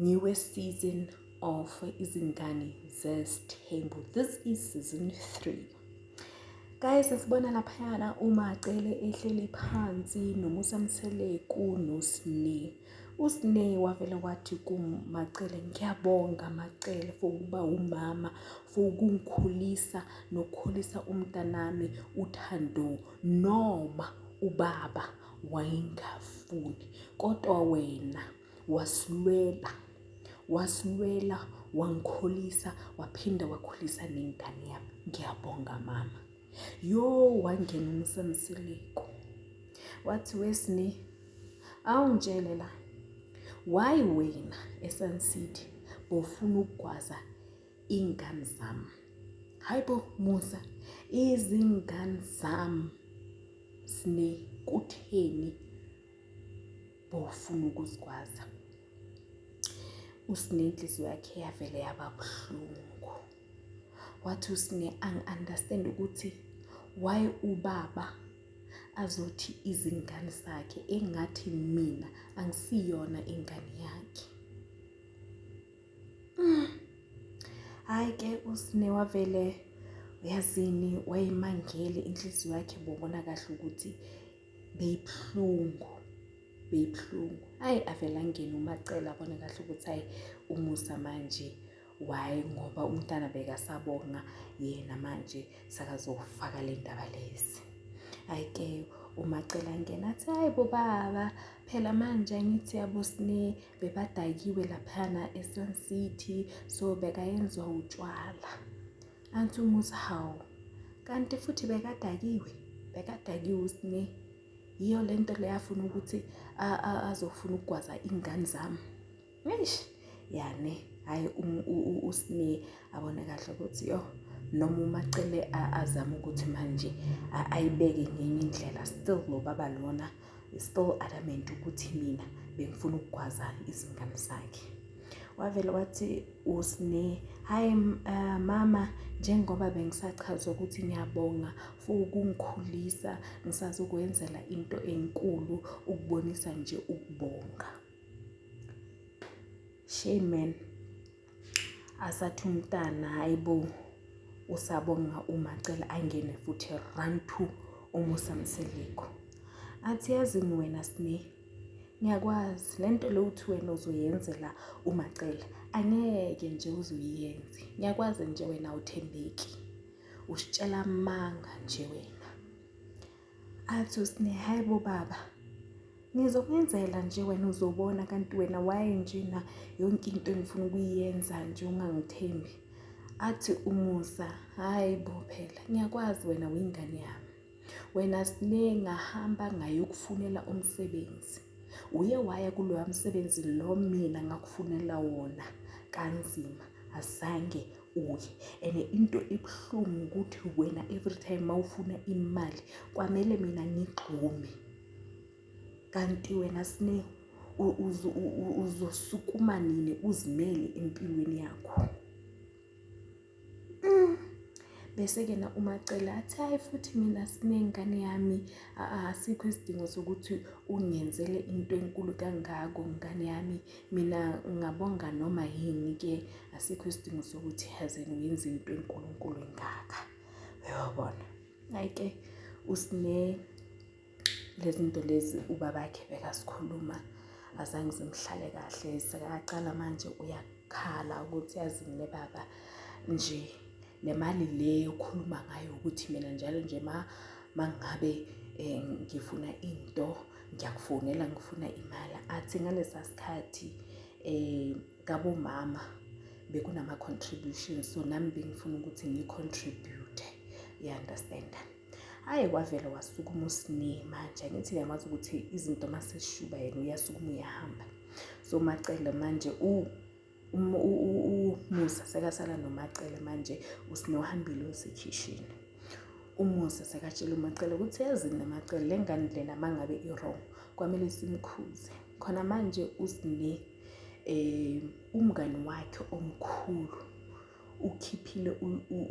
Ngiwe season of izingane zesithembu. This is season 3. Guys sibona laphayana uMacele ehleli phansi noMusa Mseleku noSne. USne wavele wathi kuMacele ngiyabonga Macele for ukuba umama for ukungikhulisa nokukhulisa umntanami uThando noma ubaba wayengafuni kodwa wena wasilwela wasilwela wangikholisa waphinda wakhulisa nengane yami ngiyabonga mama yo wangena umsamsileko wathi wesine awungitshele la why wena esun city bofuna ukugwaza iy'ngane zami hhayi bo musa izingane zami sine kutheni bofuna ukusigwaza usine inhliziyo yakhe yavele yaba buhlungu wathi usine angi-understand ukuthi why ubaba azothi izingane zakhe engathi mina angisiyona ingane yakhe mm. hayi ke usine wavele uyazini wayemangele inhliziyo yakhe bobona kahle ukuthi beyibuhlungu beyibuhlungu ayi avele angene umacela abone kahle ukuthi ayi umusa manje why ngoba umntana bekasabonga yena manje sakazofaka le ndaba lezi ayike umacela ngena athi hayi bobaba phela manje ngithi yabosine bebadakiwe laphana esun city so bekayenziwa utshwala Anti umuzi hawu kanti futhi bekadakiwe bekadakiwe usine yiyo le nto leyafuna ukuthi azofuna ukugwaza iy'ngane zami eish yane hhayi usine abone kahle ukuthi yo noma umacele azame ukuthi manje ayibeke ngenye indlela still lo baba lona still adamant ukuthi mina bengifuna ukugwaza izingane zakhe wavele wathi usne hayi uh, mama njengoba bengisachazwa ukuthi ngiyabonga for ukungikhulisa ngisazokwenzela into enkulu ukubonisa nje ukubonga shame man asathi umntana hayi bo usabonga uma cela angene futhi run to umusa mseliko athi yazi wena sine ngiyakwazi le nto le uthi wena uzoyenzela umacela angeke nje uzoyenze ngiyakwazi nje wena awuthembeki usitshela amanga nje wena Athi usine hayi bo baba ngizokwenzela nje wena uzobona kanti wena waye nje na yonke into engifuna ukuyenza nje ungangithembi athi umusa hayi bo phela ngiyakwazi wena wingane yami wena sine ngahamba ngayokufunela umsebenzi uye waya kuloya msebenzi lo mina ngakufunela wona kanzima azange uye and into ebuhlungu ukuthi wena every time mawufuna imali kwamele mina ngigxume kanti wena sine uzosukuma nini uzimele empilweni yakho mm. bese-ke na umacela athi hhayi futhi mina sinengane yami asikho isidingo sokuthi ungenzele into enkulu kangako ngane yami Mina ngingabonga noma yini ke asikho isidingo sokuthi haze ngiyenze into enkulunkulu engaka. Uyabona? Hayi ke usine lezinto lezi ubabakhe bekasikhuluma azange zimhlale kahle sekaqala manje uyakhala ukuthi yazi ngine baba nje le mali le yokukhuluma ngayo ukuthi mina njalo nje ma mangabe eh, ngifuna into ngiyakufonela ngifuna imali athi ngalesa sikhathi eh kabomama bekunama contributions so nami bengifuna ukuthi ngicontribute you understand hayi kwavele wasukuma usini manje angithi ngiyamazi ukuthi izinto maseshuba yena uyasukuma uyahamba so macele manje u umusa sekasala nomacele manje usino hambile usekhishini umusa sekatshela umacele ukuthi yazi namacele le ngane lena mangabe i-wrong kwamele simkhuze khona manje usine eh umngani wakhe omkhulu ukhiphile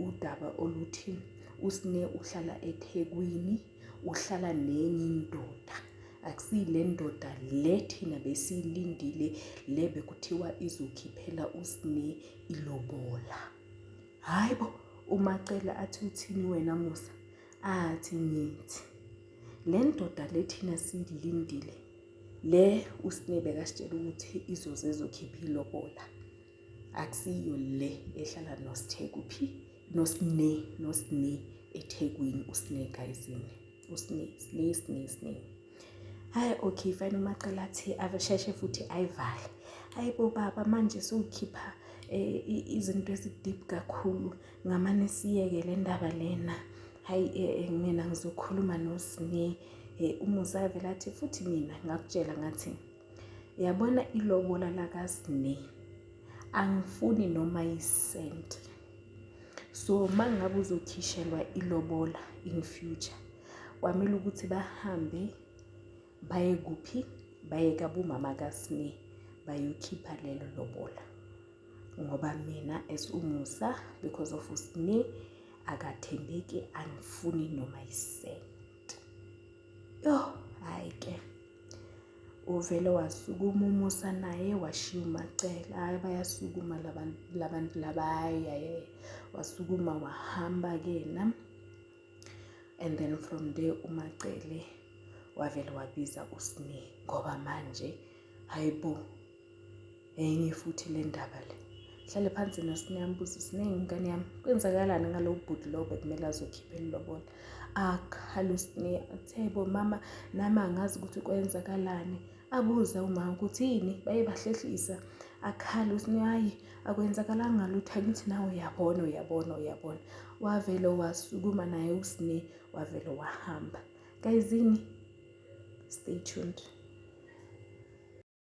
udaba oluthi usine uhlala eThekwini uhlala nenye indoda akusile ndoda le thina besiyilindile le bekuthiwa izokhiphela usine ilobola hayi bo umacela athi uthini wena musa athi ngithi le ndoda le thina siyilindile le usinebe kasitshela ukuthi izoze ezokhipha ilobola akusiyo le ehlala nosithe kuphi nosine nosine ethekwini usine gayizini usine sine sine sine hayi okay fine umacela athi avesheshe futhi ayivale hayi bo baba manje siwukhipha eh, izinto ezideep kakhulu ngamane siyeke le ndaba lena hayi eh, eh, mina ngizokhuluma nosine umusa avela athi futhi mina ngakutshela ngathi yabona ilobola lakasne angifuni noma yisenti so uma ngabe uzokhishelwa ilobola in future kwamele ukuthi bahambe baye kuphi baye kabumama kasne bayokhipha lelo lobola ngoba mina as umusa because of usne akathembeki angifuni noma yisenti yho hhayi ke Uvele wasukuma uMusa naye washiya uMacele. Hhayi bayasukuma labantu labantu laba hhayi hhayi wasukuma wahamba-ke yena and then from there uMacele wavele wabiza uSne ngoba manje hhayi bo. enye futhi le ndaba le hlale phansi nasi niyambuza siningi ingane yami kwenzakalani ngalowo bhuti lowo bekumele azokhipha elilobola akhale usine athe bo mama nami angazi ukuthi kwenzakalani abuze umama ukuthi yini baye bahlehlisa akhale usine hayi akwenzakalanga lutho angithi nawe uyabona uyabona uyabona wavele wasukuma naye usine wavele wahamba kayizini stay tuned